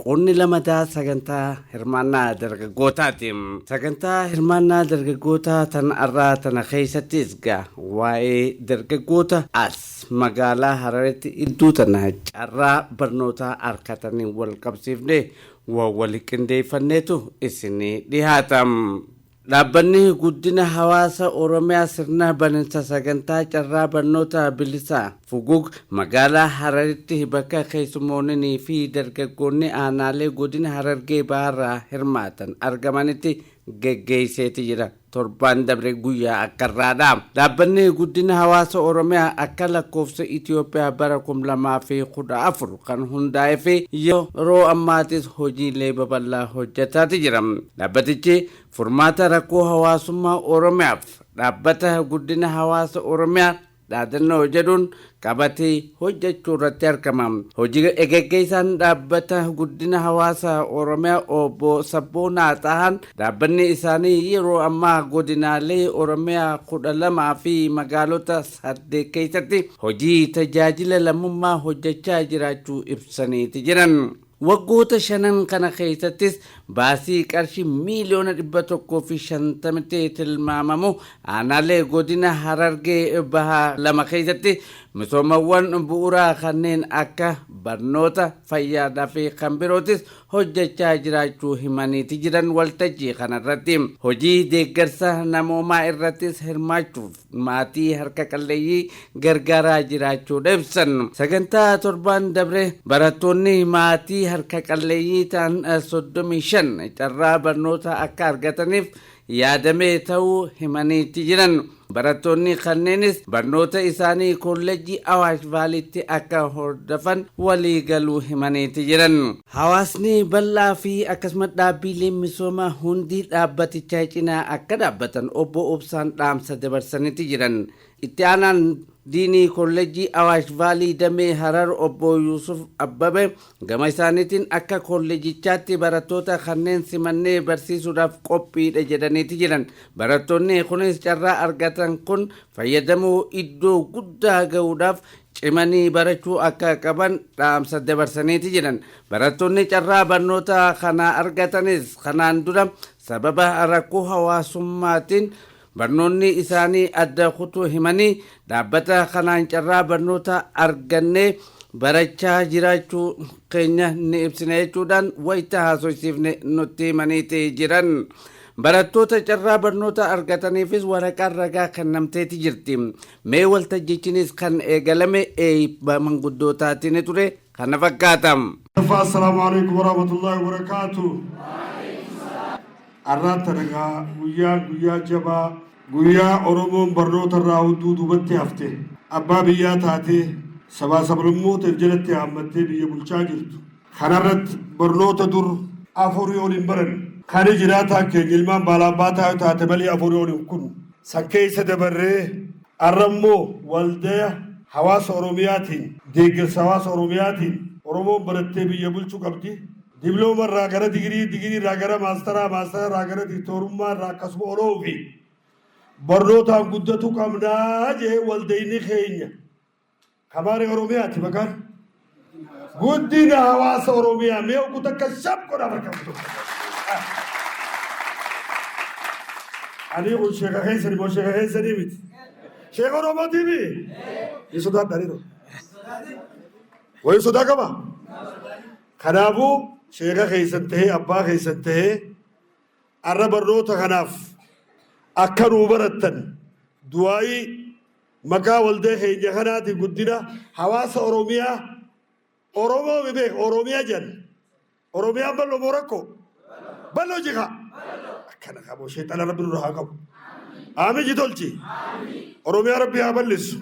Qoodni lamataa sagantaa hirmaannaa dargaggootaati. Sagantaa hirmaannaa dargaggootaa tan arraa tana keessattis ga waa'ee dargaggoota as magaalaa Hararitti idduu tana carraa barnootaa arkataniin wal qabsiifnee waa wali qindeeffanneetu isinii dhihaata. Dhaabbanni Guddina Hawaasa Oromiyaa sirna baninsa sagantaa carraa barnoota bilisaa, Fugug, magaalaa Hararitti bakka keessummooninii fi dargaggoonni aanaalee godina Harargee Bahaarraa hirmaatan argamanitti geggeesseeti jira. Torbaan dabre guyyaa akkarraa dha. Dhaabbanni Guddina Hawaasa Oromiyaa akka lakkoofsa Itiyoophiyaa bara 2014 kan hundaa'ee fi yeroo ammaatis hojiilee babal'aa hojjetaati jira. Dhaabbatichi furmaata rakkoo hawaasummaa Oromiyaaf dhaabbata guddina hawaasa Oromiyaa dhaadannoo jedhuun qabatee hojjechuu irratti argama. Hojii geggeessaan dhaabbata guddina hawaasa Oromiyaa obbo Sabboonaa Xahaan dhaabbanni isaanii yeroo ammaa godinaalee Oromiyaa kudha lamaa fi magaalota Saddeet keessatti hojii tajaajila lammummaa hojjechaa jiraachuu ibsaniiti jiran. Waggoota shanan kana keessattis baasii qarshii miiliyoona 150tti tilmaamamu aanaalee godina Harargee Bahaa lama keessatti misoomawwan bu'uuraa kanneen akka barnoota, fayyaadhaa fi kan birootis hojjechaa jiraachuu himaniiti jiran waltajjii kanarratti. Hojii deeggarsa namoomaa irrattis hirmaachuuf maatii harka qalleeyyii gargaaraa jiraachuudha ibsan. Sagantaa torbaan dabre barattoonni maatii harka qalleeyyii ta'an 35 carraa barnoota akka argataniif yaadamee ta'uu himaniitti jiran. Barattoonni kanneenis barnoota isaanii kollejjii Awaash Vaaliitti akka hordofan waliigaluu himaniitti jiran. Hawaasni bal'aa fi akkasumas dhaabbiileen misoomaa hundi dhaabbatichaa cinaa akka dhaabbatan Obbo Obsaan dhaamsa dabarsaniti jiran. Itti aanaan Diinii Kollejjii Awaash Vaalii Damee Harar Obbo Yuusuf Abbabe gama isaaniitiin akka kollejichaatti barattoota kanneen simannee barsiisuudhaaf qophiidha jedhaniiti jiran. Barattoonni kunis carraa argatan kun fayyadamoo iddoo guddaa ga'uudhaaf cimanii barachuu akka qaban dhaamsa dabarsaniiti jiran. Barattoonni carraa barnoota kanaa argatanis kanaan dura sababa rakkoo hawaasummaatiin barnoonni isaanii adda kutuu himanii dhaabbata kanaan carraa barnoota argannee barachaa jiraachuu keenya ni ibsina jechuudhaan wayita haasofsiifne nutti himaniiti jiran. Barattoota carraa barnoota argataniifis waraqaan ragaa kennamteeti jirti. Mee waltajjichinis kan eegalame eeybba manguddootaatini ture. Kana fakkaata. ffaa Assalaamu Aleeykum Warahmatullaahi Wabarakaatuh Arraa tana egaa guyyaan guyyaa jabaa guyyaa Oromoon barnoota irraa hunduu duubatti hafte abbaa biyyaa taatee sabaa sablammooteef jalatti haammattee biyya bulchaa jirtu Kana irratti barnoota dur afurii ol hin baranne. Kani jiraataan keenya ilmaan baalaabaataa yoo taate malee afurii ol hin kunne. San keessa dabarree arra immoo waldaya hawaasa Oromiyaatiin, deeggarsa hawaasa Oromiyaatiin Oromoon barattee biyya bulchu qabdi. Diblooma irraa gara digirii, digirii irraa gara maastaraa, maastara irraa gara diktoorummaa irraa akkasuma ol oofi. Barnootaan guddatu qabnaa jee waldayni keenya. Kabaare Oromiyaati bagaan. Guddina hawaasa Oromiyaa mee oguu takka shab godha bakka tokko. Ani kun sheeka keessani moo sheeka keessani miti. Sheeka Oromootii mi? Ni sodaadha ni Wayii sodaa qaba? Kanaafuu sheeka keessan ta'ee abbaa keessan ta'ee arra barnoota kanaaf akka nuu barattan du'aayii Maqaa waldaa keenya kanaatiin guddina hawaasa Oromiyaa Oromoo mi beeka Oromiyaa jedhan. Oromiyaan bal'oo moo rakkoo? Bal'oo jika. Akkana qabu sheexana rabbi nurra haa qabu. Aami ji tolchi. Oromiyaa rabbi haa bal'issu.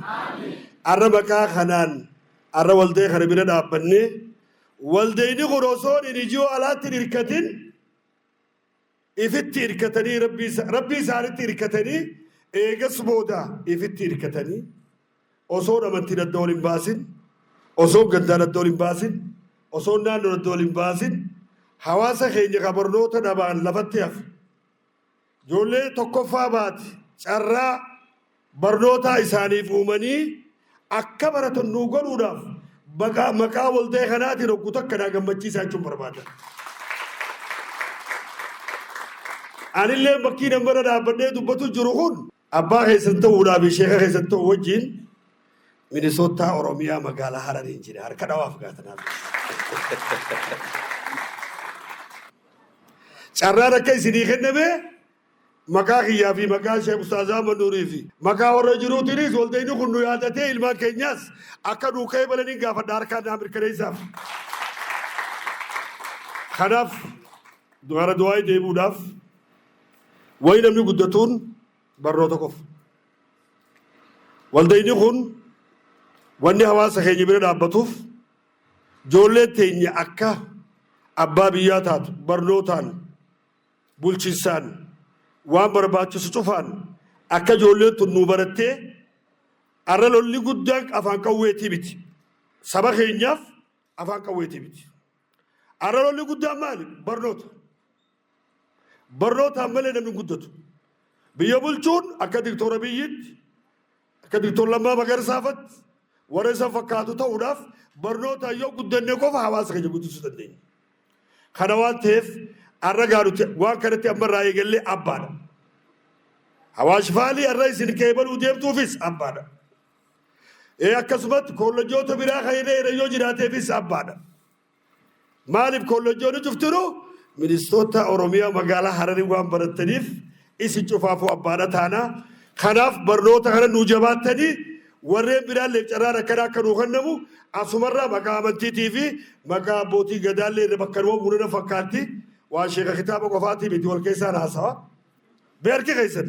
Arra maqaa kanaan arra waldaa kana bira dhaabbannee waldayni kun osoo hin ijoo alaatti hin hirkatin Ifitti irkatanii Rabbii, Rabbii isaanitti irkatanii eegas booda ifitti irkatanii osoon amantiin adda wal hin baasin, osoon gandaan adda wal hin baasin, osoon naannoon adda wal hin baasin hawaasa keenya ka barnoota dhabaan lafatti hafe ijoollee tokkoffaa baate carraa barnootaa isaaniif uumanii akka baratan nuu godhuudhaaf maqaa maqaa walta'ee kanaatiin oggu takka naa gammachiisaa jechuun barbaada. Anillee bakkii nan bira dhaabbadhee dubbatu jiru kun abbaa keessan ta'uudhaa fi sheeka keessan ta'u wajjin Minisootaa Oromiyaa magaalaa Harariin jira harka dhawaaf gaatanaa. Carraan akka isinii kenname Maqaa kiyyaa fi maqaa Sheekh Ustaaz Ahmad Nuurii fi maqaa warra jiruutiinis waldayni kun nu yaadatee ilmaan keenyaas akka nuu qeebalaniin gaafadha harkaan naa mirkaneessaaf. Kanaaf gara du'aa'ii deebi'uudhaaf wayi namni guddatuun barnoota qofa. Waldayni kun wanni hawaasa keenya bira dhaabbatuuf ijoolleen teenya akka abbaa biyyaa taatu barnootaan bulchinsaan waan barbaachisu cufaan akka ijoolleen tun nuu barattee arra lolli guddaan afaan qawweetii miti saba keenyaaf afaan qawweetii miti arra lolli guddaan maali barnoota barnootaan malee namni hin guddatu biyya bulchuun akka diktoora biyyitti Akka Dr. Lammaa Magarsaa fatti warra isa fakkaatu ta'uudhaaf barnootaan yoo guddanne qofa hawaasa keenya guddisuu dandeenya. Kana waan ta'eef har'a gaarutti waan kanatti amma irraa eegallee abbaadha. Hawaash faalii har'a isin qeebaluu deemtuufis abbaadha. Ee akkasumatti koollejoota biraa kan hidhee yoo jiraateefis abbaadha. Maaliif kollejjoonni cuftiru ministoota Oromiyaa magaalaa Hararii waan barattaniif isin cufaafuu abbaadha taana. Kanaaf barnoota kana nuu jabaattanii warreen biraallee carraan akkanaa akka nuu kennamu asumarraa maqaa amantiitii fi maqaa abbootii gadaallee irra bakka nama buunana fakkaatti waan sheeka kitaaba qofaatii miti wal keessaan haasawa. Mee harki keessan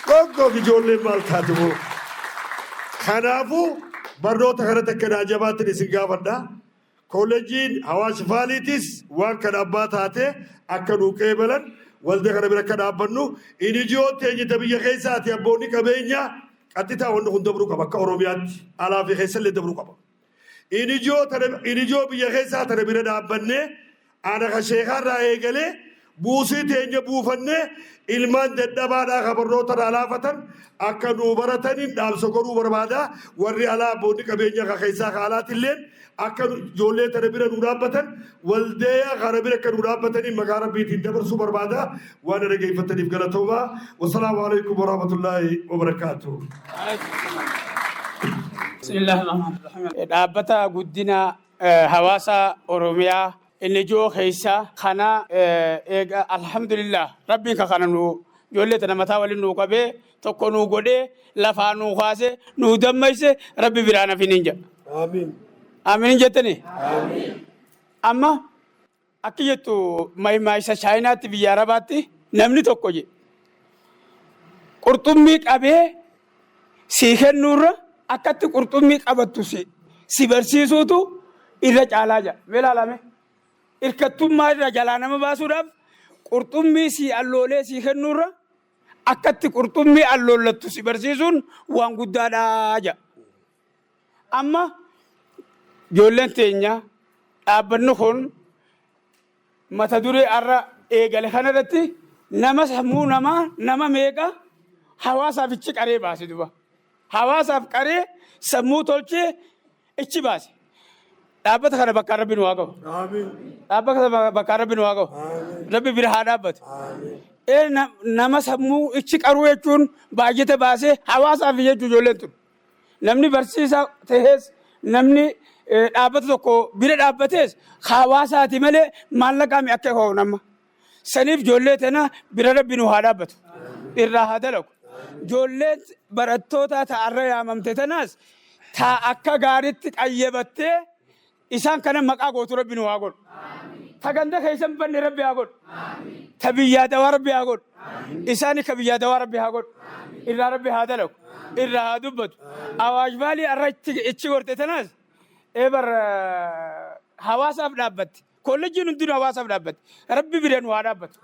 dhoggoof ijoolleen maal taate moo? Kanaafuu barnoota kanatti akka naa jabaattan isin gaafadha. Kooleejiin hawaasi faaliitis waan kana abbaa taatee akka nuu qeebalan walda kana bira akka dhaabbannu inijiyoon teenyita biyya keessaati abboonni qabeenyaa qaxxitaa wanni kun dabruu qaba akka Oromiyaatti alaa fi keessallee dabruu qaba. In ijoo tana in ijoo biyya keessaa tana bira dhaabbannee ana ka sheekaarraa eegalee buusii teenya buufannee ilmaan dadhabaadhaa ka barnoota irraa laafatan akka nuu barataniin dhaamsa godhuu barbaada warri alaa abboonni qabeenya ka keessaa ka alaatilleen akka nu- ijoollee tana bira nuu dhaabbatan Waldeeyaa kaana bira akka nuu dhaabbataniin maqaa Rabbiitiin dabarsuu barbaada. Waan na dhageeffattaniif galatoomaa. Wasalaamu alaikum warahmatullaahi wabarakaatuh. Dhaabbata guddina hawaasa Oromiyaa inni ijoo keessa kana eega alhamdulillah rabbiin ka kana nu ijoollee tana mataa waliin nu qabee tokko nuu godhee lafaa nuu kaasee nuu dammayse rabbi biraan hafiniin jedha. Aamiin jettanii? Amma akki jettu maayisa chaayinaatti biyya arabaatti namni tokko jedhe qurxummii qabee sii kennuurra akkatti qurxummii qabattu si si barsiisuutu irra caalaa jira. Mee ilaalame hirkattummaa irra jalaa nama baasuudhaaf qurxummii sii alloolee sii kennuurra Akka itti qurxummii alloollattu si barsiisuun waan guddaadha jedha. Amma ijoolleen teenya dhaabbanni kun mata duree har'a eegale kanarratti nama sammuu namaa nama meeqa hawaasaaf ichi qaree baase duba. Hawaasaaf qaree sammuu tolchee ichi baase. Dhaabbata kana bakkaan rabbi nu haa gahu. Dhaabbata kana bakkaan rabbi nu haa gahu. Rabbi bira haa dhaabbatu. Ee na- nama sammuu ichi qaruu jechuun baajata baasee hawaasaaf jechuu ijoolleen tun. Namni barsiisaa ta'es namni eh, dhaabbata tokko bira dhaabbates hawaasaati malee maallaqaa mi akka ka'u nama. Saniif ijoollee tana bira rabbi nu haa dhaabbatu. Irraa haa dalagu. Ijoolleen barattootaa ta arra yaamamte tanaas ta akka gaaritti qayyabattee isaan kana maqaa gootu rabbi nu haa godhu. Ta ganda keessan banne rabbi haa godhu. Ta biyyaa dawaa rabbi haa godhu. Isaani ka biyyaa dawaa rabbi haa godhu. Irraa rabbi haa dalagu. Irraa haa dubbatu. Awaash baalii arra itti ichi gorte tanaas eebar hawaasaaf dhaabbatte. Koolleejjiin hundinuu hawaasaaf dhaabbate. Rabbi bira nu haa dhaabbatu.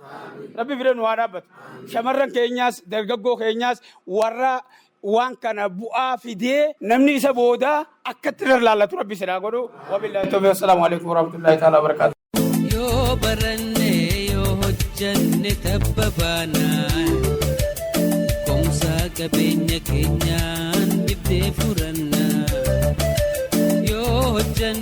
Rabbi bira nu haa dhaabbatu. Shamarran keenyaas, dargaggoo keenyaas warra waan kana bu'aa fidee namni isa booda akkatti irra laallatu rabbi isin haa godhu. Wabillahi tawfiq. Assalaamu alaikum warahmatullahi ta'ala wabarakatuh. Yoo baranne yoo hojjanne tabba baanaan Komsaa qabeenya keenyaan dhibdee furannaa Yoo hojjanne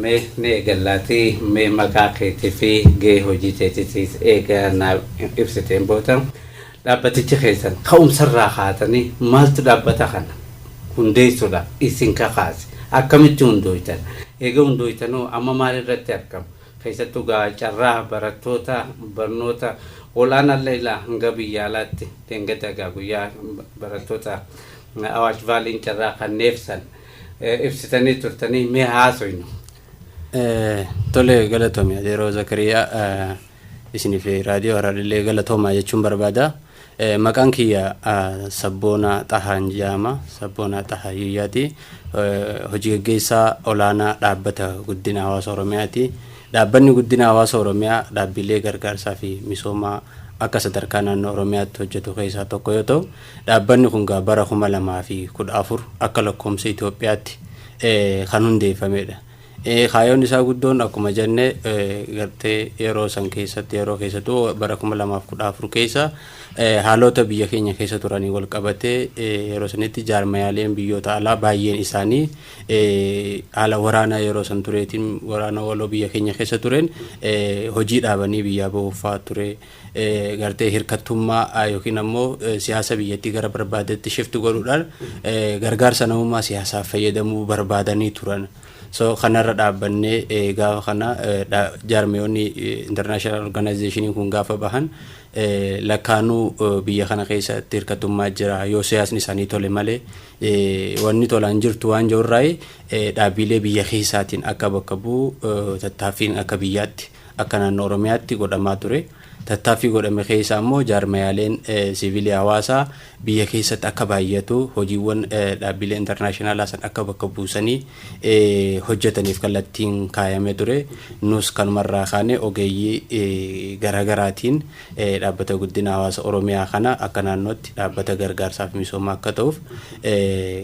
Mee ni eegallaatii mee maqaa keetii fi gahee hojii teetiitiis eega naaf ibsiteen booda dhaabbatichi keessan ka'umsarraa kaatanii maaltu dhaabbata kana hundeessuudhaaf isin kakaase akkamitti hundooytan eega hundooytanoo amma maalirratti argamu keessattuu gaa carraa barattoota barnoota ol'aanaallee ilaa hanga biyyaalaatti deengada gaa guyyaa barattoota Awaash Vaaliin carraa kanneef san ibsitanii turtanii mee haasoynu. Tole galatomi Adeeroo Zakariyaa isinii fi raadiyoo Harariillee galatoomaa jechuun barbaada. Maqaan kiyya Sabboonaa Xahaan jedhama. Sabboonaa Xahaa Yiyyaati. Hojii gaggeessaa olaanaa dhaabbata guddina hawaasa Oromiyaati. Dhaabbanni guddina hawaasa Oromiyaa dhaabbilee gargaarsaa fi misoomaa akka sadarkaa naannoo Oromiyaatti hojjetu keessaa tokko yoo ta'u, Dhaabbanni kun egaa bara 2014 akka lakkoomsa Itoophiyaatti kan hundeeffameedha. Kaayoon isaa guddoon akkuma jenne gartee yeroo san keessatti yeroo keessattuu bara 2014 keessa haalota biyya keenya keessa turanii wal qabatee yeroo sanitti jaarmayaaleen biyyoota alaa baay'een isaanii haala waraanaa yeroo san tureetiin waraana waloo biyya keenya keessa tureen hojii dhaabanii biyyaa bahuuf fa'aa ture. gartee hirkattummaa yookiin ammoo siyaasa biyyattii gara barbaadetti shift godhuudhaan gargaarsa namummaa siyaasaaf fayyadamuu barbaadanii turan. So kanarra dhaabbannee gaafa kana jaarmiyoonni international organization kun gaafa bahan lakkaanuu biyya kana keessatti hirkattummaa jira yoo siyaasni isaanii tole malee wanni tolaan jirtu waan jirurraa dhaabbiilee biyya keessaatiin akka bakka bu'u tattaaffiin akka biyyaatti Akka naannoo Oromiyaatti godhamaa ture. Tattaaffii godhame keessaa immoo jaarmayaaleen siivilii hawaasaa biyya keessatti akka baay'atu, hojiiwwan dhaabbilee internaashinaalaa san akka bakka buusanii hojjetaniif kallattiin kaayamee ture. Nus kanumarraa kaanee ogeeyyii garaagaraatiin dhaabbata guddina hawaasa Oromiyaa kana akka naannootti dhaabbata gargaarsaa fi misoomaa akka ta'uuf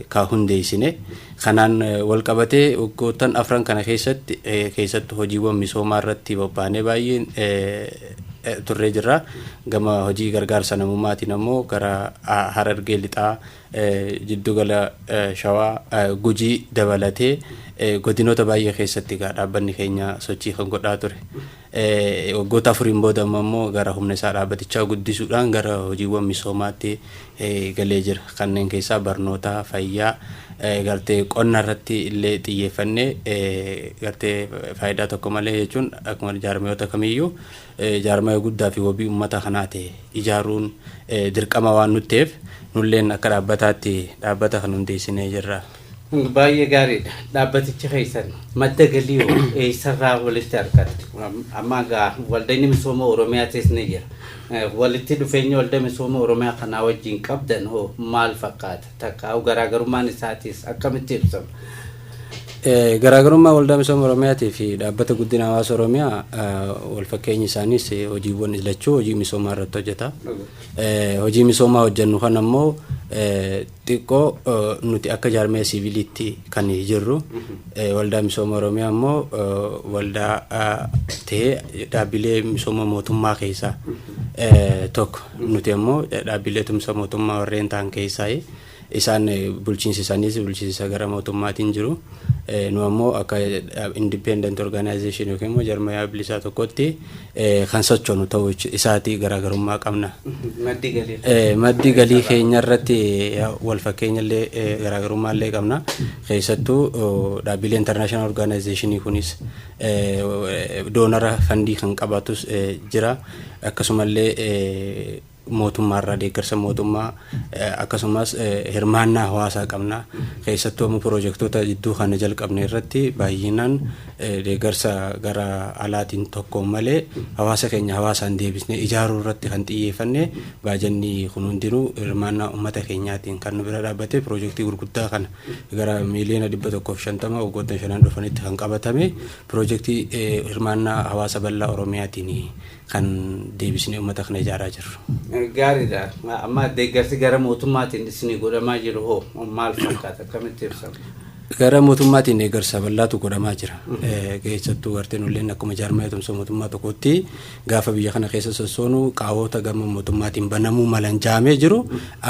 ka hundeessine. Kanaan walqabatee waggoottan afran kana keessatti keessattu hojiiwwan misoomaa irratti bobbaanee baay'een turree jirra. Gama hojii gargaarsa namummaatiin ammoo gara Harargee Lixaa, Jiddugala Shawaa, Gujii dabalatee godinoota baay'ee keessatti egaa dhaabbanni keenya sochii kan godhaa ture. Waggoota afuriin booda amma immoo gara humna isaa dhaabbatichaa guddisuudhaan gara hojiiwwan misoomaatti galee jira. Kanneen keessaa barnoota, fayyaa, gartee qonna irratti illee xiyyeeffannee gartee faayidaa tokko malee jechuun akkuma jaarmayoota kamiyyuu jaarmaya guddaa fi wabii uummata kanaa ta'e ijaaruun dirqama waan nutti ta'eef nulleen akka dhaabbataatti dhaabbata kan hundeessinee jirra. Baay'ee gaariidha. Dhaabbatichi keessan madda galii hoo eessarraa walitti argattu? Am- Amma egaa waldayni misooma Oromiyaa keessa ni jira. Eh, Walitti dhufeenya walda misooma Oromiyaa kanaa wajjin qabdan hoo maal fakkaata? Takka garaagarummaan isaatiis akkamitti ibsama? Eh, Garaagarummaa waldaa misooma Oromiyaatii fi dhaabbata guddina hawaasa Oromiyaa eh, wal fakkeenyi isaaniis eh, hojiiwwan lachuu hojii misoomaa irratti hojjeta. Eh, Hojii misoomaa hojjennu kan ammoo eh, Xiqqoo nuti akka jaarmiya siiviliitti kan jirru waldaa misooma Oromiyaa immoo waldaa ta'ee dhaabbilee misooma mootummaa keessaa tokko. Nuti immoo dhaabbilee tumsa mootummaa warreen ta'an keessaa isaan bulchiinsi isaaniis bulchiinsa gara mootummaatiin jiru. Nu ammoo akka independent organization yookiin immoo jarmayaa bilisaa tokkotti kan sochoonu ta'uu isaati garaagarummaa qabna. Maddi galii keenya irratti wal fakkeenya illee garaagarummaa illee qabna. Keessattuu dhaabbilee international organizationii kunis doonara fandii kan qabatus jira. Akkasumallee mootummaa irraa deeggarsa mootummaa akkasumas hirmaannaa hawaasaa qabna. Keessattuu amma pirojektoota jidduu kana jalqabne irratti baay'inaan deeggarsa gara alaatiin tokko malee hawaasa keenya hawaasaan deebisnee ijaaruu irratti kan xiyyeeffanne baajanni kun hundinuu hirmaannaa uummata keenyaatiin kan nu bira dhaabbate pirojektii gurguddaa kana gara miiliyoona dhibba tokkoof shantama waggoottan shanan dhufanitti kan qabatame pirojektii hirmaannaa hawaasa bal'aa Oromiyaatiin kan deebisnee ummata kana ijaaraa jirru. Gaariidha. Amma deeggarsi gara mootummaatiin isinii godhamaa jiru hoo maal fakkaata? Akkamitti ibsama? Gara mootummaatiin deeggarsa bal'aatu godhamaa jira. Keessattuu garteen illeen akkuma jaarmaa eetumsa mootummaa tokkootti gaafa biyya kana keessa sossoonu qaawota gama mootummaatiin banamuu malan jaamee jiru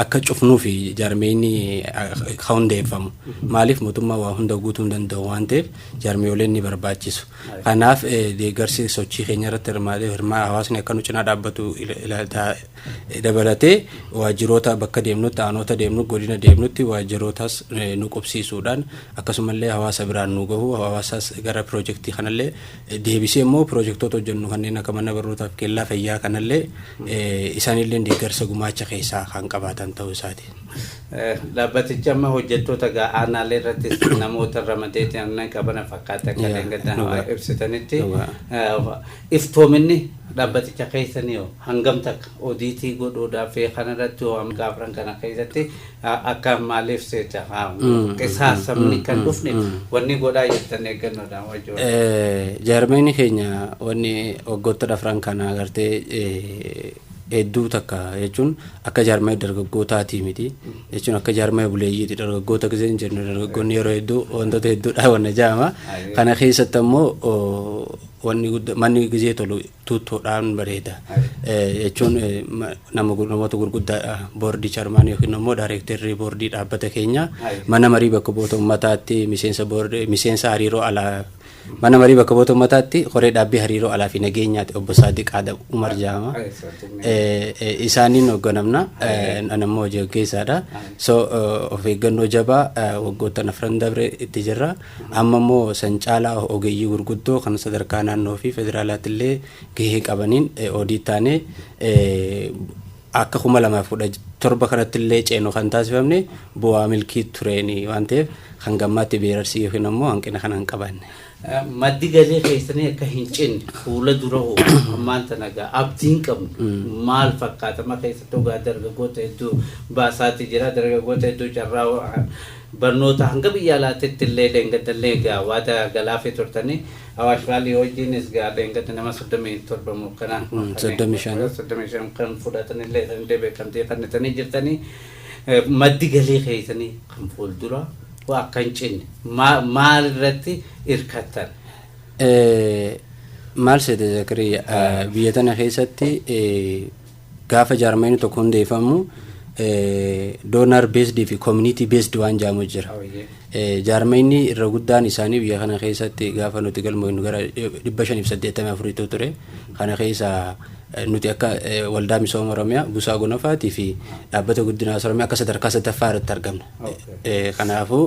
akka cufnuu fi jaarmeeyni hundeeffamu. Maaliif mootummaa waa hunda guutuu hin danda'u waan ta'eef jaarmeeyoleen ni barbaachisu. Kanaaf deeggarsi sochii keenya irratti hirmaatee hirmaa hawaasni akka nu cinaa dhaabbatu ilaaltaa dabalatee waajjiroota bakka deemnutti aanoota deemnu godina deemnutti waajjirootas nu qubsiisuudhaan akkasumallee hawaasa biraan nu gahu hawaasas gara piroojeektii kanallee deebisee immoo piroojeektoota hojjennu kanneen akka mana barnootaaf keellaa fayyaa kanallee isaanillee deeggarsa gumaacha keessaa kan qabaatan ta'uu isaati. Dhaabbatichi amma hojjettoota egaa aanaalee irrattis namoota ramadee aannan qabana fakkaata akka Yaa, dheengaddaa dhugaa. hawaa ibsitanitti Dhugaa. eh, iftoominni dhaabbaticha keessanii hoo hangam takka odiitii godhuudhaaf fi kanarratti hoo amma gaafran kana keessatti eh, akka maaliif seeta haa qisaasamni kan dhufne wanni godhaa jirtan eeggannoodhaan wajjin. Eh, jaarmeenni keenya wanni waggoota dhafran kana agartee eh, hedduu takka jechuun akka jaarmaya dargaggootaatii miti jechuun akka jaarmaya buleeyyiiti dargaggoota gisee hin jennu dargaggoonni yeroo hedduu wantoota hedduudhaa wanna jaama kana keessatti ammoo wanni gudda manni gisee tolu tuuttoodhaan bareeda jechuun nama namoota gurguddaa boordii charmaan yookiin ammoo daayireektarrii boordii dhaabbata keenya mana marii bakka bu'oota ummataatti miseensa boordii miseensa hariiroo alaa Mana Marii Bakka Bu'oota Ummataatti Koree Dhaabbii Hariiroo Alaa fi Nageenyaati Obbo Saadiq Aadam Umar Jaama. Isaaniin hoogganamna. Ani ammoo hojii gaggeessaadha. So of eeggannoo jabaa waggoottan afran dabre itti jirra. Amma immoo san caalaa ogeeyyii gurguddoo kan sadarkaa naannoo fi federaalaatti illee gahee qabaniin oodii taanee Akka 2017 kanatti illee ceenu kan taasifamne bu'aa milkii tureeni waan ta'eef hanga ammaatti beerarsii yookiin ammoo hanqina kana hin qabaanne. Maddi galii keessanii akka hin cinne fuula dura hoo ammaan tana egaa abdiin qabnu maal fakkaata? Amma keessattuu egaa dargaggoota hedduu baasaati jira. Dargaggoota hedduu carraa Barnoota hanga biyya alaatitti illee dheengadda illee egaa waada galaafii turtani. Awaash Vaalii wajjiinis egaa dheengadda nama 37 moo akkana akkuma kana 35. 35 kan fudhatan illee dha illee beekamtii kennitanii jirtani. Maddi galii keessanii kan fuulduraa hoo akka hin cinne maa- maal irratti irkattan? Eh, maal seete zakariya Eh, biyya tana keessatti eh, Gaafa jaarmayni tokko hundeeffamu donor based fi community based waan jaamu jira. Jaarmayni irra guddaan isaanii biyya kana keessatti gaafa nuti galmoofnu gara 584 ture. Kana keessaa nuti akka waldaa misooma Oromiyaa Busaa Gonofaatii fi dhaabbata guddinaa Oromiyaa akka sadarkaa sadaffaa irratti argamna. Kanaafuu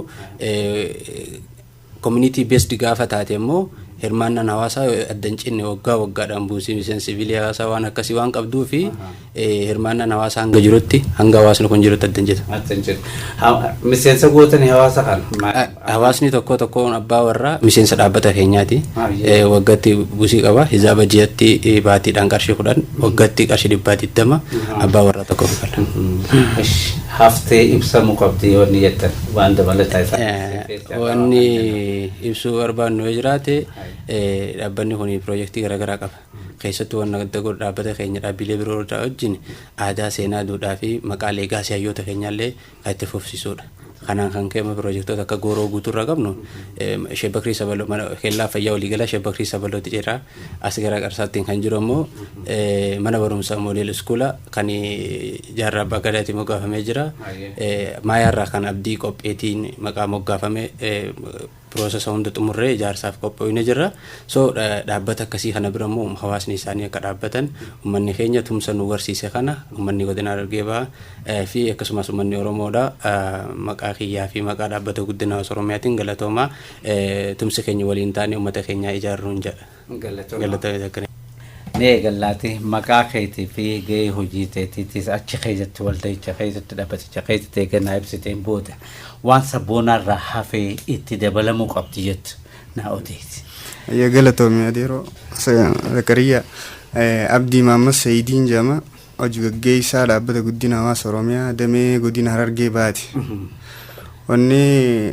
Community based gaafa taate immoo hirmaannaan hawaasaa adda hin cinne waggaa waggaadhaan buusii miseensi siviilii hawaasaa waan akkasii waan qabduu fi hirmaannaan hawaasaa hanga jirutti hanga hawaasni kun jirutti adda hin jedhu. Adda hin jedhu. Ha- Miseensa gootanii hawaasa kana. ma- Hawaasni tokko tokkoon abbaa warraa miseensa dhaabbata keenyaati. Ah, yeah. Eh, Waggaatti buusii qaba. Hizaaba ji'atti eh, baatiidhaan qarshii kudhan waggaatti qarshii dhibbaa digdama abbaa warraa tokko kafala. Ish, Haftee ibsamuu qabdi yoo ni jettan waan dabalataa isaa. Eh, Wanni ibsuu barbaannu yoo jiraate dhaabbanni kun piroojeektii garaagaraa qaba. Keessattuu wanna adda godhu dhaabbata keenya dhaabbilee biroo irraa wajjin aadaa, seenaa, duudhaa fi maqaa leegaasii hayyoota keenyaallee kan itti fufsiisuudha. Kanaan kan ka'e immoo piroojeektoota akka gooroo guutuu irraa qabnu Shebbakrii Sabaloo mana keellaa fayyaa waliigalaa Shebbakrii Sabalootti jira. As gara Qarsaattiin kan jiru ammoo mana barumsaa moodel iskuula kan jaarraa abbaa gadaatiin moggaafamee jira. Maayaarraa kan abdii qopheetiin maqaa moggaafame piroosesa hunda xumurree ijaarsaaf qophoofne jirra. So dhaabbata akkasii kana bira immoo hawaasni isaanii akka dhaabbatan uummanni keenya tumsa nu garsiise kana uummanni godina Harargee Bahaa fi akkasumas uummanni Oromoodha maqaa kiyyaa fi maqaa dhaabbata guddina hawaasa Oromiyaatiin galatoomaa. Tumsa keenya waliin taane ummata keenyaa ijaarruun jedha. Gallatoomi. Mee gallaati maqaa keetii fi gahee hojii teetiitis achi keessatti walda'icha keessatti dhabbaticha keessatti eega naa ibsiteen booda waan sabboonaa irraa hafee itti dabalamuu qabdi jettu naa odeessi. Ayya galatoomi adeeroo Zakariyaa Abdii Maammas Sayidiin jedhama. Hoji gaggeessaa Dhaabbata Guddina Hawaasa Oromiyaa damee godina Harargee Bahaati. Wanni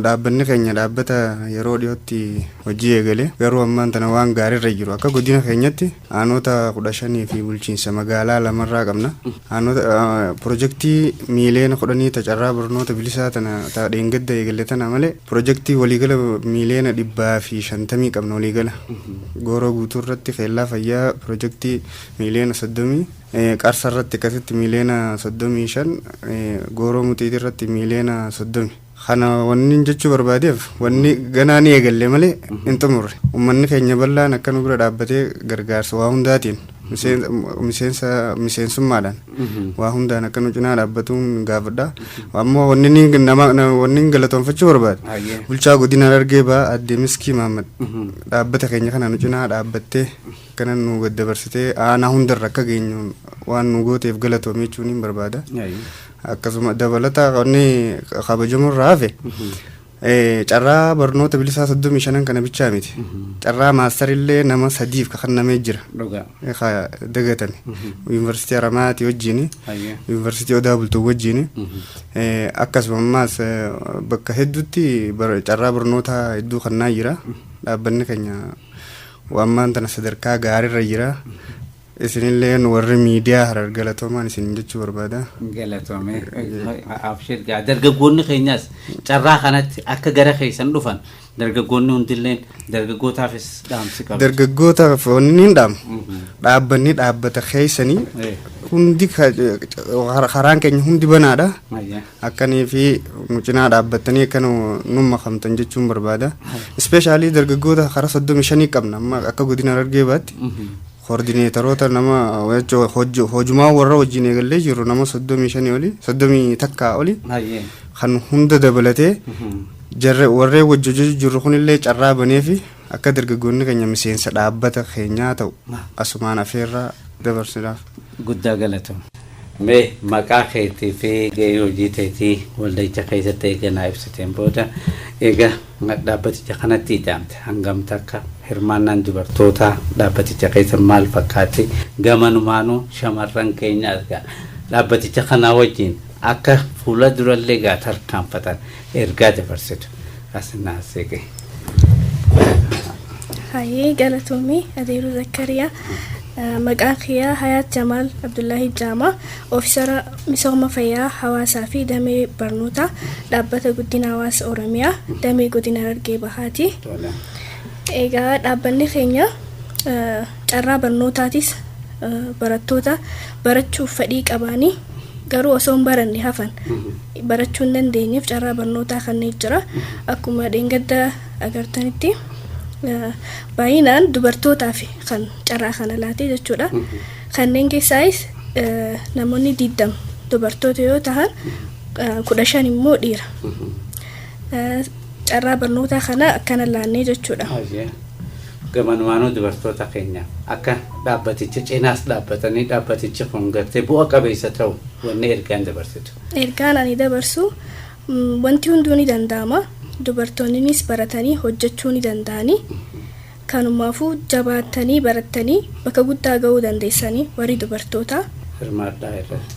dhaabbanni keenya dhaabbata yeroo dhiyootti hojii eegale garuu ammaan tana waan gaariirra jiru akka godina keenyatti aanoota kudha shanii fi bulchiinsa magaalaa lamarraa qabna. Aanoota pirojektii miiliyoona kudhanii ta carraa barnoota bilisaa tana ta dheengadda eegale tana malee pirojektii waliigala miiliyoona dhibbaa fi shantamii qabna waliigala. Gooroo guutuu irratti keellaa fayyaa pirojektii miiliyoona 30, Qarsa irratti akkasitti miiliyoona 35, Gooroo Muxiitii irratti miiliyoona 30. Kana wannin jechuu barbaadeef wanni ganaa ni eegalle malee hin xumurre. Ummanni keenya bal'aan akka nu bira dhaabbatee gargaarsa waa hundaatiin miseen- miseensa miseensummaadhaan waa hundaan akka nu cinaa dhaabbatuun gaafadha. Ammoo wanni inni nama na- wanni inni galatoonfachuu barbaade Hayyee. bulchaa godina Harargee ba'aa addee Miskii Maammad dhaabbata keenya kana nu cinaa dhaabbattee Kanan nuu daddabarsitee aanaa hundarra akka geenyu waan nu gooteef galatoomi jechuuniin barbaada. Akkasuma dabalata wanni kabajamu irraa hafe eh, carraa barnoota bilisaa soddomii shanan kana bichaa miti. Carraa maastarillee nama sadiif ka kennamee jira. Dhugaa. Eh, ka dagatame. Yuunivarsiitii Haramaayaati wajjini. Hayyee. Yuunivarsiitii Odaa Bultuu wajjini. Eh, Akkasuma ammaas eh, bakka hedduutti bar- carraa barnootaa hedduu kennaa jira. Dhaabbanni keenya Wbo ammaan tana sadarkaa gaarirra jira. Isinilleen warri miidiyaa Harar galatoomaan isiniin jechuu barbaada. Galatoomi. Abshir gaa dargaggoonni keenyas carraa kanatti akka gara keessan dhufan dargaggoonni hundilleen dargaggootaafis dhaamsi qabu. Dargaggootaaf wanni ni dhaama. Dhaabbanni dhaabbata keessanii Eh. hundi ka- karaan keenya hundi banaadha. Ayya. Akka nii fi nu cinaa dhaabbattanii akka nu nun makamtan jechuun barbaada. Ispeeshaalii dargaggoota karaa soddomii shanii qabna amma akka godina Harargee baatti. Koordineetaroota nama jechuun hojju- hojumaa warra wajjin eegallee jirru nama soddomii shanii olii soddomii takkaa olii Hayyee. kan hunda dabalatee jarre warreen wajji hojjechuu jirru kunillee carraa baneefi akka dargaggoonni keenya miseensa dhaabbata keenyaa ta'u asumaan afeerraa dabarsiidhaaf. Guddaa galatoom. Mee maqaa keetii fi gahee hojii teetii walda'icha keessatti eega naa ibsiteen booda, eega dhaabbaticha kanatti ida'amte hangam takka, hirmaannaan dubartootaa dhaabbaticha keessa maal fakkaatti, gamanumaanuu shamarran keenya argaa dhaabbaticha kanaa wajjiin Akka fuula durallee egaa tarkaanfatan ergaa dabarsitu as naasee gahe. Hayyee galatoomii Adeeroo Zakkariyaa. Eh, Maqaa kiyyaa Hayaat Jamaal Abdullaahii Jaamaa oofisara misooma fayyaa hawaasaa fi damee barnootaa dhaabbata guddina hawaasa Oromiyaa damee godina Harargee Bahaati. Tola. Egaa dhaabbanni keenya eh, carraa barnootaatis eh, barattoota barachuuf fedhii qabaanii garuu osoo hin baranne hafan barachuu hin dandeenyeef carraa barnootaa kanneen jira. Akkuma dheengadda agartanitti eh, baay'inaan dubartootaaf kan carraa kana laatee jechuudha. Kanneen keessaayis eh, namoonni 20 dubartoota yoo tahan eh, 15 immoo dhiira. Eh, Carraa barnootaa kana akkana laannee jechuudha. Ayyee. Gamanumaanuu dubartoota keenya akka dhaabbaticha cinaas dhaabbatanii dhaabbatichi kun gartee bu'a qabeessa ta'u wanni ergaan dabarsitu. Ergaan ani dabarsu wanti hunduu ni danda'ama. Dubartoonninis baratanii hojjechuu ni danda'ani. Kanumaafuu jabaattanii barattanii bakka guddaa ga'uu dandeessani warri dubartootaa. Hirmaadhaa irratti.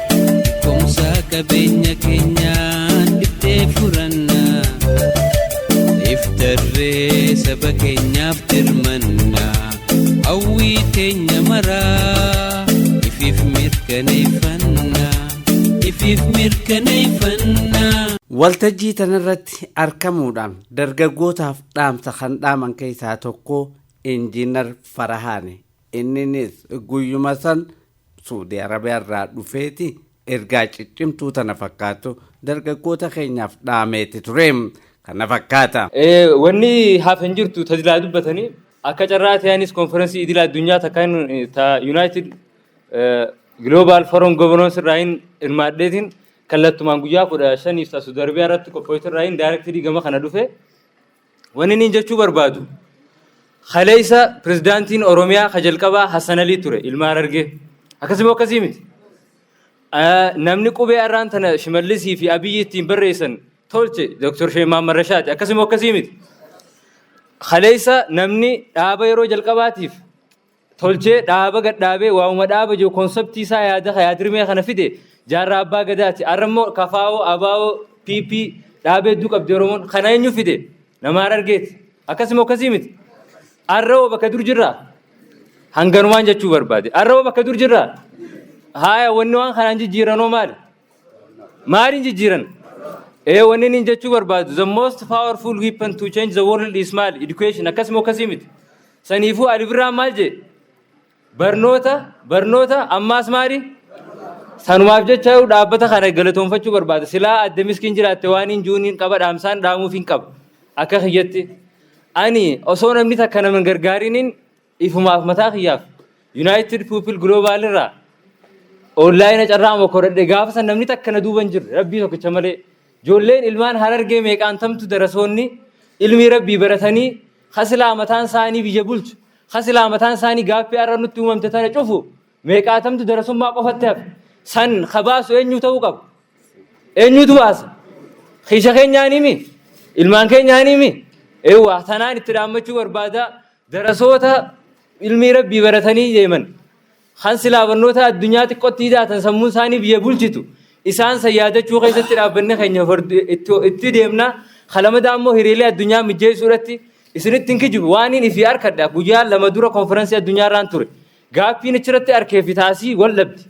Beekumsa qabeenya keenyaan dhiftee furanna iftarree saba keenyaaf dirmanna hawwii teenya maraa ifiif mirkaneeffanna ifiif mirkaneeffanna. Waltajjii tanarratti argamuudhaan dargaggootaaf dhaamsa kan dhaaman keessaa tokko Injiinar Farahaani. Inninis guyyuma san Suudii Arabiyaa irraa dhufeeti ergaa ciccimtuu tana fakkaattu dargaggoota keenyaaf dhaameeti ture. Kana fakkaata. Wanni hafe hin jirtu ta silaa dubbatanii akka carraa ta'e anis konferansii idila addunyaa takka ta United Global Forum Governance irraa hin hirmaadheetiin kallattumaan guyyaa kudha shaniif ta Suudii Arabiyaa irratti qophoofte irraa hin daayirektirii gama kana dhufe. Wanni niin jechuu barbaadu kaleessa pirezidaantiin Oromiyaa ka jalqabaa Hassan Alii ture ilma Harargee. Akkasii moo akkasii miti? Namni qubee arraan tana Shimallisii fi Abiyyi ittiin barreessan tolche Dr. Sheeh Mahammad Rashaadi. Akkasii moo akkasii miti? Kaleessa namni dhaaba yeroo jalqabaatiif tolchee dhaaba gad dhaabee waa'uma dhaaba jiru konseptii isaa yaada yaadrimee kana fide jaarraa abbaa gadaati. Har'a immoo kafaawoo abaawoo PP dhaabee hedduu qabdi Oromoon kana eenyu fide nama harargeeti. Akkasuma akkasii miti. Har'a hoo bakka dur jirraa? Hanganumaan jechuu barbaade. Har'a hoo bakka dur jirraa? Haaya wanni waan kanaan jijjiiranoo maali? Maaliin jijjiiran? Ee wanni inni jechuu barbaadu the most powerful weapon to change the world is maali? Education akkasuma akkasii miti. Saniifuu Ali Birraan maal jee? Barnoota barnoota ammaas maali? Sanumaaf jecha dhaabbata kana galatoomfachuu barbaada. Silaa adde miskiin jiraatte waan hin jiruun hin qaba dhaamsaan dhaamuuf hin qaba. Akka kiyyatti. Ani osoo namni takka nama hin gargaariniin Ifumaaf mataa kiyyaaf Yunaayitid Puupil Giloobaal irraa onlaayina carraa mokoradhe gaafa san namni takka na duuba hin jirre rabbii tokkicha malee ijoolleen ilmaan harargee meeqaantamtu darasoonni ilmii rabbii baratanii hasilaa mataan isaanii biyya bulchu hasilaa mataan isaanii gaaffii har'a nutti uumamte tana cufu meeqaatamtu darasummaa qofatti hafe san kabaasu eenyu ta'uu qaba eenyutu baasa kiisha keenyaanii mi ilmaan keenyaanii mi eewwaa tanaan itti dhaammachuu barbaadaa Darasoota ilmii rabbii baratanii deeman kan silaa barnoota addunyaa xiqqotti hidhaatan sammuun isaanii biyya bulchitu isaan san yaadachuu keessatti dhaabbanni keenya fardu- itti- itti deemna kalamadaa immoo hiriilee addunyaa mijjeessuu irratti isinitti hin kijibu waaniin ifi arkadha guyyaa lama dura konferansii addunyaa irraan ture gaaffiin achirratti arkee fi taasii wal dhabdi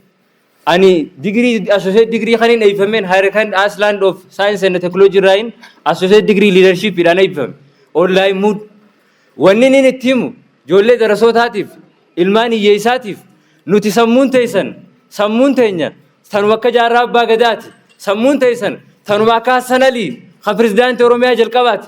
Ani digirii associate digirii kanin eebbifameen Higher Kind Iceland of Science and Technology irraayin associate digirii leadership dhaan eebbifame. Online mood. Wanni inni itti himu ijoollee darasootaatiif ilmaan hiyyeessaatiif nuti sammuun teessan sammuun teenya tanuma akka jaarraa abbaa gadaati. Sammuun teessan tanuma akka Hassan Alii kan pirezidaantii Oromiyaa jalqabaati.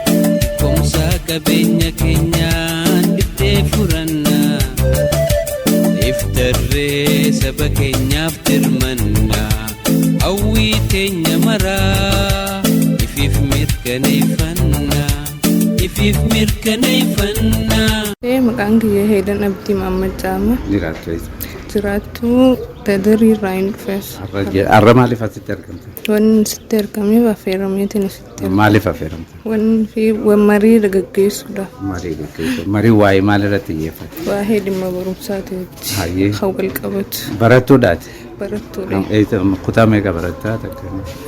Beekumsa qabeenya keenyaan dhiftee furanna. Iftarree saba keenyaaf dirmanna. Hawwii teenya maraa ifiif mirkaneeffanna. Ifiif mirkaneeffanna. Ee, Maqaan kiyya Heelan Abdii Mahammad Caama. Jiraattu eessa? Jiraattuu Dadarii irraa hin dhufes. Har'a maaliif asitti argamte? Wanni sitti argameef affeerameetiin Maaliif affeeramte? Wanni fi wan marii gaggeessuudha. Marii gaggeessu. Marii waa'ee maal irratti xiyyeeffate? Waa'ee dhimma barumsaati wajji. Hayyee. Kan wal qabatu. Barattuudhaati. Barattuudha. Am- eessa- am- Kutaa meeqa barattaa takka?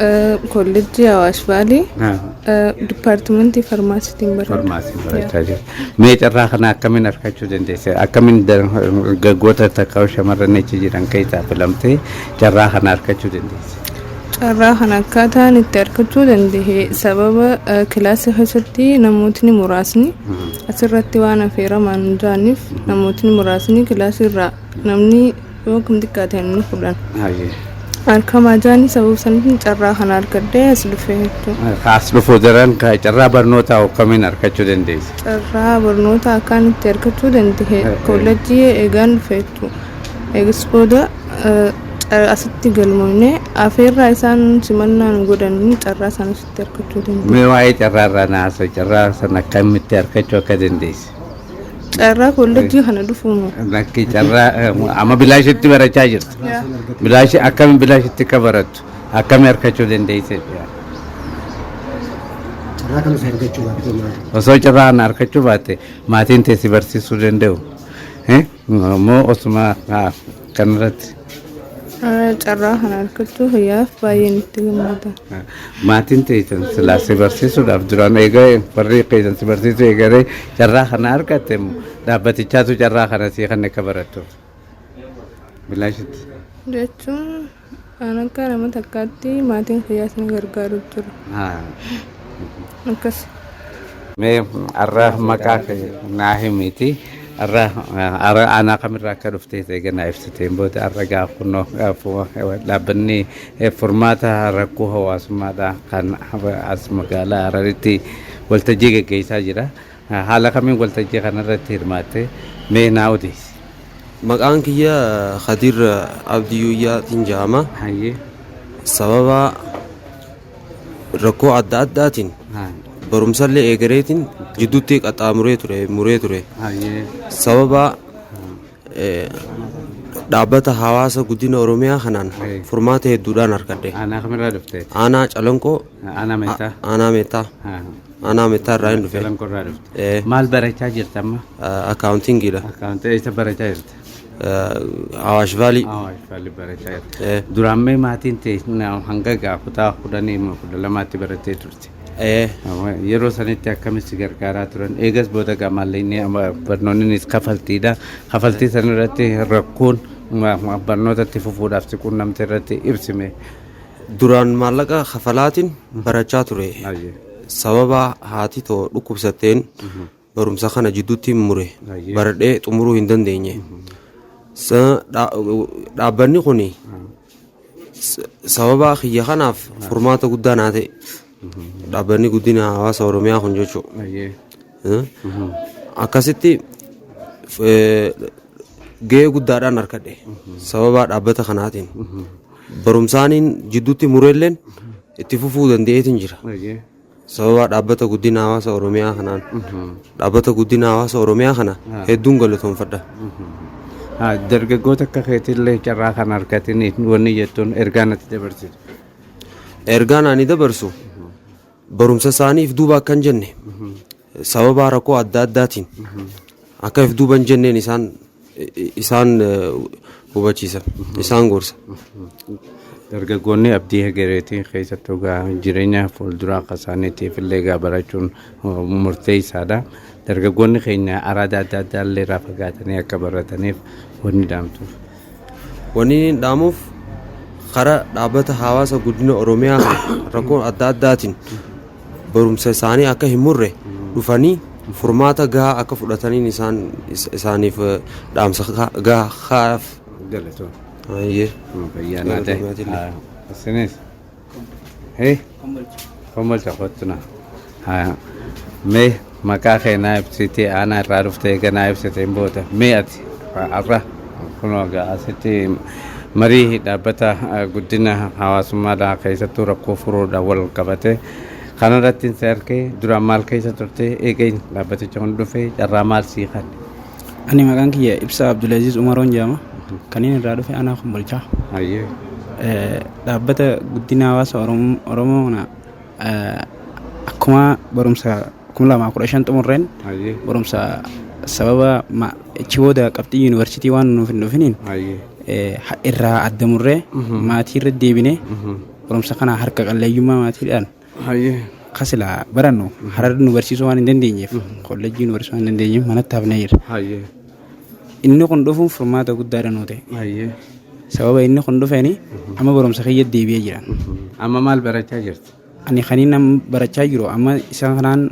Eh, Kollejjii Hawaash Baalee Ah, eh, Dipaartimentii Farmaasiitiin barata. Farmaasii barachaa jirta. Mee carraa kana akkamiin argachuu dandeesse? Akkamiin dargaggoota takka shamarran achi jiran keessaa filamtee carraa kana argachuu dandeesse? Carraa kana akkaataan itti argachuu danda'e sababa kilaasii keessatti namootni muraasni asirratti waan affeeraman hin jiraniif namootni muraasni kilaasii irraa namni yoo kam xiqqaate namni kudhan argamaa jiranii sababa saniif carraa kana argadhee as dhufee jechuudha. Kaas dhufuu daran carraa barnootaa akkamiin argachuu dandeessa? Carraa barnootaa akkaan itti argachuu danda'e koolleejjii eegaan dhufe jechuudha. Eegas booda Asitti galmoofne afeerraa isaan simannaa nu godhaniin carraa isaan asitti argachuu dandeenya. Mee waa'ee carraa irraa na haasa'u. Carraa sana akkamitti argachuu akka dandeesse? Carraa kollejjii kana dhufuun Lakki carraa eh, amma bilaashitti barachaa jirtu. Bilaashi akkamiin bilaashitti akka barattu akkamii argachuu dandeesse? Carraa kanas argachuu baattee maal? Osoo carraa kana argachuu baatte maatiin teessi barsiisuu danda'u. Eh, Immoo osuma ah, Kanarratti Ah, Carraa kana argachuu kiyyaaf baay'een itti gammada. maatiin teessan silaa si barsiisuudhaaf duraan eegalee warri keessan si barsiisuu eegalee carraa kana argatte immoo dhaabbatichaatu carraa kana sii kan akka barattu. Bilaashitti. Jechuun An akka nama takkaatti maatiin kiyyaas na gargaaru jiru. Haa. Akkas. Mee arra maqaa kee naa himiiti. Arra arra aanaa kamirraa akka dhufte eega naa ibsiteen booda arra gaa kunoo eh, fu- eh, dhaabbanni eh, furmaata rakkoo hawaasummaadhaa kan as magaalaa Hararitti waltajjii geggeessaa jira. Haala kamiin waltajjii kanarratti hirmaatte? Mee naa odeessi. Maqaan kiyya Kadir Abdii Yuuyyaatiin jedhama. Hayyee. Sababa rakkoo adda addaatiin Haa. barumsallee eegareetiin jidduutti qaxxaamuree ture muree ture. Hayyee. Sababa eh, dhaabbata hawaasa guddina Oromiyaa kanaan Eh. furmaata hedduudhaan argadhe. Aanaa kamirraa dhufte? Aanaa calanqoo Aanaa meetaa? aanaa meetaa. Haa. Anaa mitaa irraa hin dhufe. Salam qorraa dhufte. Ee. Maal barachaa jirta amma? Akaawuntingiidha. Akkaawuntii eessa barachaa jirta? Awaash Vaalii. Awaash Vaalli barachaa jirta. Ee. Duraan mee maatiin tee na- hanga gaa kutaa kudhanii moo kudha lamaatti barattee turte. Ee. Amma Yeroo sanitti akkamitti si gargaaraa turan eegas booda gaa maallaqni amma barnoonnis kafaltiidha. Kafaltii sanarratti rakkoon ma- ma- barnootatti fufuudhaaf si quunnamte irratti ibsime. Duraan maallaqa kafalaatiin barachaa ture. Ayyee. Sababa haati too dhukkubsatteen barumsa kana jidduutti mure. Ayyee. Baradhee xumuruu hin dandeenye. Sa- dha- Dhaabbanni kun sababa kiyya kanaaf furmaata guddaa naa ta'e. Dhaabbanni guddina hawaasa Oromiyaa kun jechuudha. Ayyee. Eh? akkasitti eh, gahee guddaadhaan harkadhe sababa dhaabbata kanaatiin barumsaaniin jidduutti mureelleen itti fufuu danda'eetiin jira. Baay'ee. Sababa dhaabbata guddina hawaasa Oromiyaa kanaan dhaabbata guddina hawaasa Oromiyaa kana Ah. hedduun galatoomfadha. Ah, Dargaggoota akka keetillee carraa kan argatanii wanni jettuun ergaa natti dabarsitu. Ergaan ani dabarsu barumsa isaaniif duuba akka hin jenne Sababaa rakkoo adda addaatiin akka if duuba hin jenneen isaan isaan hubachiisa isaan gorsa. Dargaggoonni abdii hegereetii keessatti egaa jireenya fuulduraa akka isaaniitiif illee egaa barachuun murteessaadha. Dargaggoonni keenya araada adda addaa illee irraa fagaatanii akka barataniif wanni dhaamtuuf. Wanniin dhaamuuf kara dhaabbata hawaasa guddina Oromiyaa rakkoo adda addaatiin barumsa isaanii akka hin murre dhufanii furmaata gahaa akka fudhataniin isaan is- isaaniif eh, dhaamsa ka- gahaa kaa'aaf. Galatoo. Ayyee. Fayyaa naa ta'e. Galatoomaa jille. Isinis. Hee? Kombolcha. Kombolcha kottu na. Haa. Mee maqaa kee naa ibsitii aanaa irraa dhufte eega naa ibsiteen booda. Mee ati har'a kunoo egaa asitti marii dhaabbata eh, guddina hawaasummaadhaa keessattuu rakkoo furuudhaan wal qabate kanarratti si argee duraan maal keessa turte eega dhaabbaticha kun dhufe carraa maal sii kan? Ani maqaan kiyya Ibsaa Abdulaziz Umaroon jedhama. Kan inni irraa dhufe anaa kun bulchaa. Hayyee. Eh, Dhaabbata guddina hawaasa Orom- Oromoo kana eh, akkuma barumsa 2015 xumurreen Hayyee. barumsa sababa ma- achi booda qabxii yuunivarsiitii waan nuuf hin dhufiniin Hayyee. eh, ha- irraa adda murree maatii irra deebinee barumsa kana harka qalleeyyummaa maatiidhaan Hayyee. Ka silaa barannu harar nu barsiisuu waan hin dandeenyeef kollejjii nu barsiisuu waan hin dandeenyeef manatti hafnee jirra. Hayyee. Inni kun dhufuun furmaata guddaadha nuu ta'e. Hayyee. Sababa inni kun dhufeeni amma barumsa kiyya deebi'ee jira. Amma maal barachaa jirta? Ani kaniin amma barachaa jiru amma isa kanaan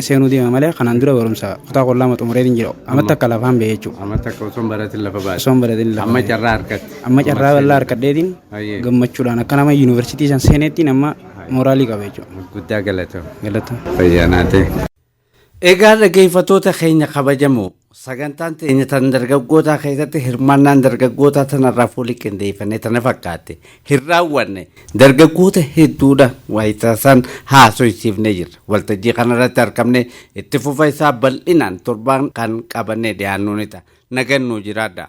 seenuu deema malee kanaan dura barumsa kutaa kudha lama xumuree hin jiru amatti akka lafaan ba'e jechuudha. Amma takka osoo hin baratin lafa baate. Osoo hin baratin lafa Amma baate. carraa harkatti. Amma carraa bal'aa harkadheetiin Baay'ee. gammachuudhaan akka nama yuunivarsiitii san seeneettiin amma mooraalii qaba jechuudha. Guddaa galatama. Galatama. Fayyaanaatee. Egaa dhaggeeffattoota keenya kabajamoo Sagantaan teenya tan dargaggootaa keessatti hirmaannaan dargaggootaa tanarraa fuulii qindeeffannee tana fakkaate hin raawwanne dargaggoota hedduudha waayitaasaan haasoysiifnee jirra waltajjii kanarratti argamne itti fufa isaa bal'inaan torbaan kan qabannee dhiyaannuu ni ta'a nagannuu jiraadha.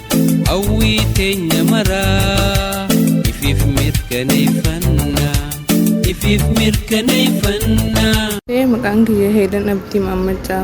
Hawwii teenya maraa ifiif mirkaneeffannaa ifiif mirkaneeffannaa. Maqaan kiyya Heelan Abdii Maammaccaa.